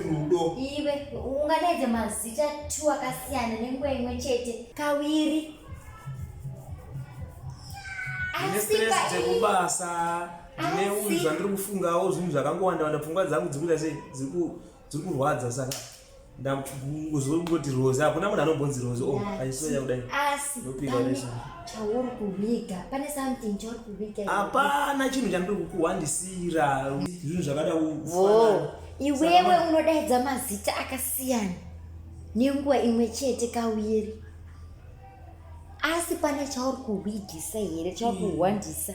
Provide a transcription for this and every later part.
rudo iwe ungadaidze mazita two akasiyana nenguva imwe chete kaviri dzekubasa neunzwa ndiri kufungawo zvinhu zvakangowanda wanda pfungwa dzangu dzikuita sei dziri kurwadza saka ndakuzongoti rozi hakuna munhu anombonzi rozi o oh, achisoya kudai chauri kuviga pane something chauri kuviga hapana chinhu chandiri kukuhwandisira zvinhu zvakada iwewe unodaidza mazita akasiyana nenguva imwe chete kawiri asi pane chauri kuhwidisa here chauri kuhwandisa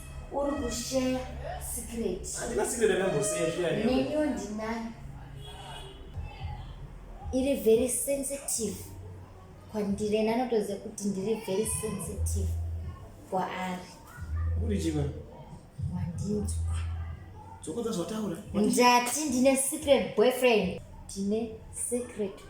uri kusheya secret handina secret yakamboseya zviya neniwo ndinayo iri very sensitive kwandiri ena anotoziva kuti ndiri very sensitive kwaari uri chiva wandinzwa dzokodza zvataura ndati ndine secret boyfriend ndine secret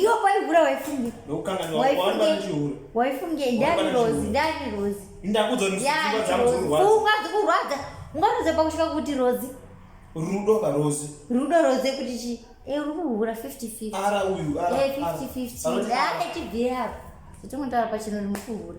iwe kwaihura waifunge waifunge ndani rozi ndani rozi pfungwa dzikurwadza ungaroza pakusvika kuti rozi rudo karozi rudo rozi kuti chii eh, uri kuhura 50 50 50 50 ane tibvirapo zvatingotaura pachino uri mukuhura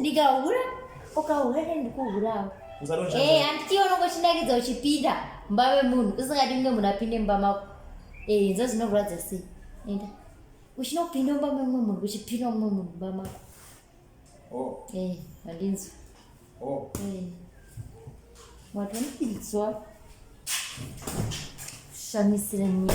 ndikahura ukahura ne ndikuhurawo eh, handitiwo unongochinakidza uchipinda mumba vemunhu usingadi kunge munhu apinde mumba mako eh, nzo zvinorwadza sei enda uchinopinda mumba memumwe munhu uchipinda mumwe munhu mumba mako oh. eh, handinzwi oh. wati unopinzwa shamisira nyika